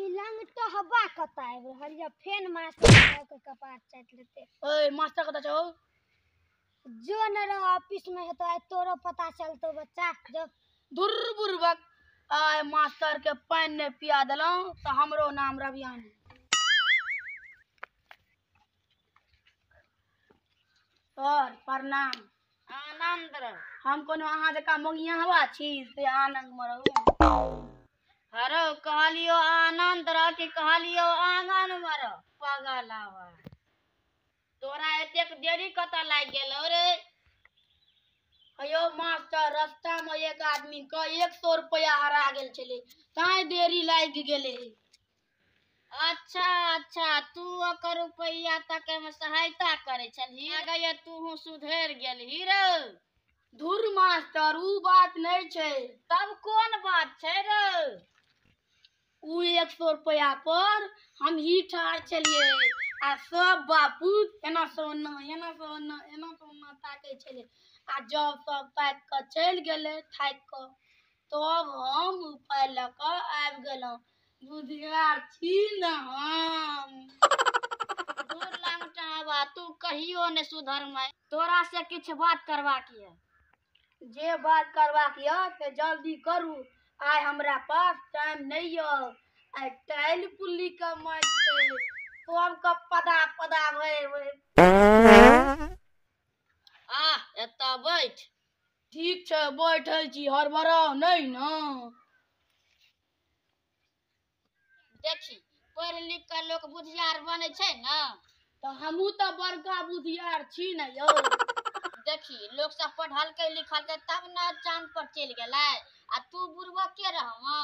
ई लंगटो हवा कत आबि रहल यऽ फेन मास्टर साहब के कपार चाटि लेते ओए मास्टर कतऽ छौ जो न रहो ऑफिस में हेतो आइ तोरो पता चलतो बच्चा जो धुर बुर्बक आय मास्टर के पानि नहि पिया देलहुँ तऽ हमरो नाम रवियानी सर प्रणाम आनंद रह हम कोनो अहाँ जकाँ मोगिया हवा छी से आनंद में रहू हरो कहलियो आनंद रह कि कहलियो आंगन में रह पागल आवा तोरा एतेक देरी कतऽ लागि गेलौ रे अयो मास्टर रास्ता में एक आदमी के एक सौ रुपया हरा गेल छले ताई देरी लागि गेले अच्छा अच्छा तू ओकर रुपैया तके में सहायता करे छलही गए तू सुधर गेलही रे धुर मास्टर ऊ बात नहीं छै तब कोन बात छै रे ऊ एक सौ रुपया पर हम ही ठार छलिए आ सब बापू एना से ओना एना से ओना एना से ओना ताके छले आ जब सब ताक के चल गेले थाक के तब हम उपाय लऽ के आबि गेलहुँ बुधियार छी न हम दूर लंगटा हवा तू कहियो ने सुधर मैं तोरा से किछ बात करबाक ये जे बात करबाक ये से जल्दी करू आइ हमरा पास टाइम नहीं ये आइ टाइल पुल्ली के माइट छै सब के पदा पदा भए भए आ एतऽ बैठ ठीक छै बैठे छी हड़बड़ाओ नहीं न देखी पढ़ि लिख कऽ लोक बुधियार बनै छै ने तऽ हमहूँ तऽ बड़का बुधियार छी ने यौ देखी लोक सब पढ़लकै लिखलकै तब ने चाँद पर चलि गेलै आ तू बुढ़बक के रहमा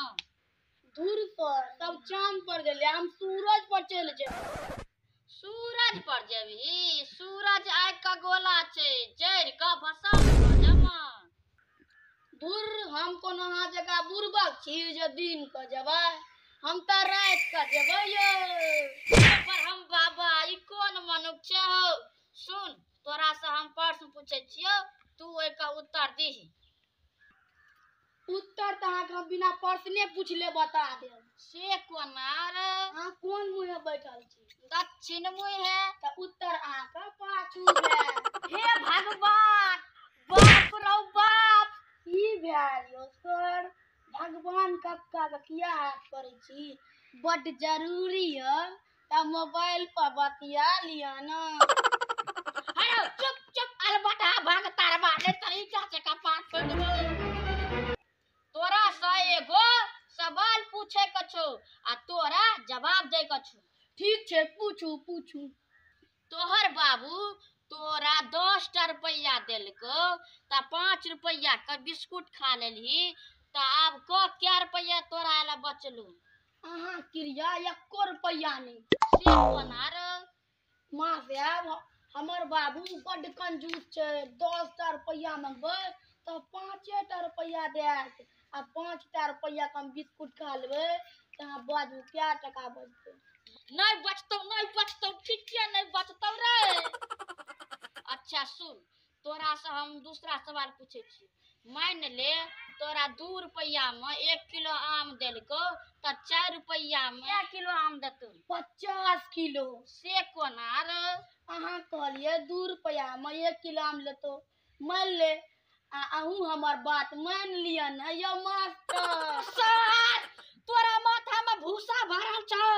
धूर पर तब चाँद पर गेलै हम सूरज पर चलि जेबै सूरज पर जेबही सूरज आगि का गोला छै जरि का भसम भऽ जमा बुर हम कोनो अहाँ जकाँ बुरबक छी जे दिन के जेबै हम तऽ राति के जेबै यौ पर हम बाबा ई कोन मनुख छै हौ सुन तोरा से हम प्रश्न पूछै छियौ तू ओहिके उत्तर दीही उत्तर तऽ अहाँके हम बिना प्रश्ने पूछले बता देब से कोना रे अहाँ कोन मुँहे बैठल छी दक्षिण मुहे तऽ उत्तर अहाँके पाछू भेल हे भगवान बाप रौ बाप की भेल यौ सर भगवान कक्का के किया हाथ करै छी बड जरूरी है तब मोबाइल पर बतिया लिया ना अरे चुप चुप अलबटा भाग तारवा ने तरीका से कपार पर तोरा से एगो सवाल पूछे के छो आ तोरा जवाब दे के छो ठीक छे पूछू पूछू तोहर बाबू तोरा दस टा रुपया देलको त पाँच रुपया के बिस्कुट खा लेलही त आब क क्या रुपया तोरा ला बचलो अहाँ क्रिया एको रुपैया नहि से बनार माँ साहब हमर बाबू बड्ड कंजूस छै दस टा रुपैया मंगबै तऽ पाँचे टा रुपैया देत आ पाँच टा रुपैया के हम बिस्कुट खा लेबै तऽ अहाँ बाजू कए टाका बचतै नहि बचतौ नहि बचतौ ठीके नहि बचतौ रे अच्छा सुन तोरासँ हम दूसरा सवाल पूछै छी मानि ले तोरा दू रुपैआमे एक किलो आम देलको तऽ चारि रुपैआमे एक किलो आम देतौ पचास किलो से कोना रे अहाँ कहलियै दू रुपैआमे एक किलो आम लेतो मानि ले आ अहूँ हमर बात मानि लिअ ने यौ मास्टर सर तोरा माथामे भूसा भरल छौ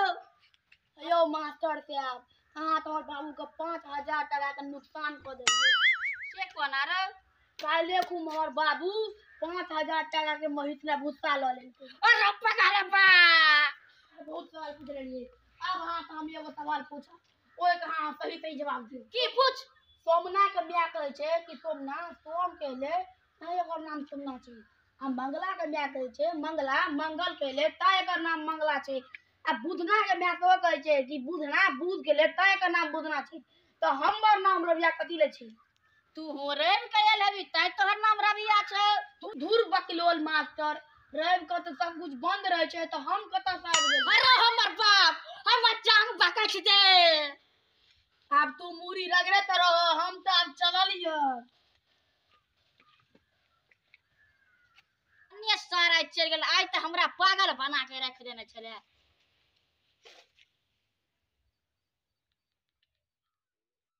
यौ मास्टर साहब अहाँ तोहर बाबूके पाँच हजार टाकाके नुकसान कऽ देलियै से कोना रे काल्हे खूब हमर बाबू पाँच हजार टाकाके महीस लए भुस्सा लऽ लेलकै अरे पका रे बा बहुत सवाल पूछ लेलियै अब अहाँ से हम एगो सवाल पूछब ओहिके अहाँ सही सही जवाब दियौ की पूछ सोमना के माय कहै छै कि सोमना सोम के ले तैं एकर नाम सोमना छै आ मंगला के माय कहै छै मंगला मंगल के ले तैं एकर नाम मंगला छै आ बुधना के मैं तो कहे छे कि बुधना बुध के ले तय का नाम बुधना छी तो हमर नाम रविया कथी ले छी तू हो रैन कयल हबी तय तोहर नाम रविया छे तू धूर बकलोल मास्टर रैन का तो सब कुछ बंद रहे छे तो हम कता से आबि गेल अरे हमर बाप हम जान बाका छी दे अब तू मूरी रगड़े तो रहो हम तो अब चलल हियो अन्य सारा चल गेल आइ तऽ हमरा पागल बना के रख देने छले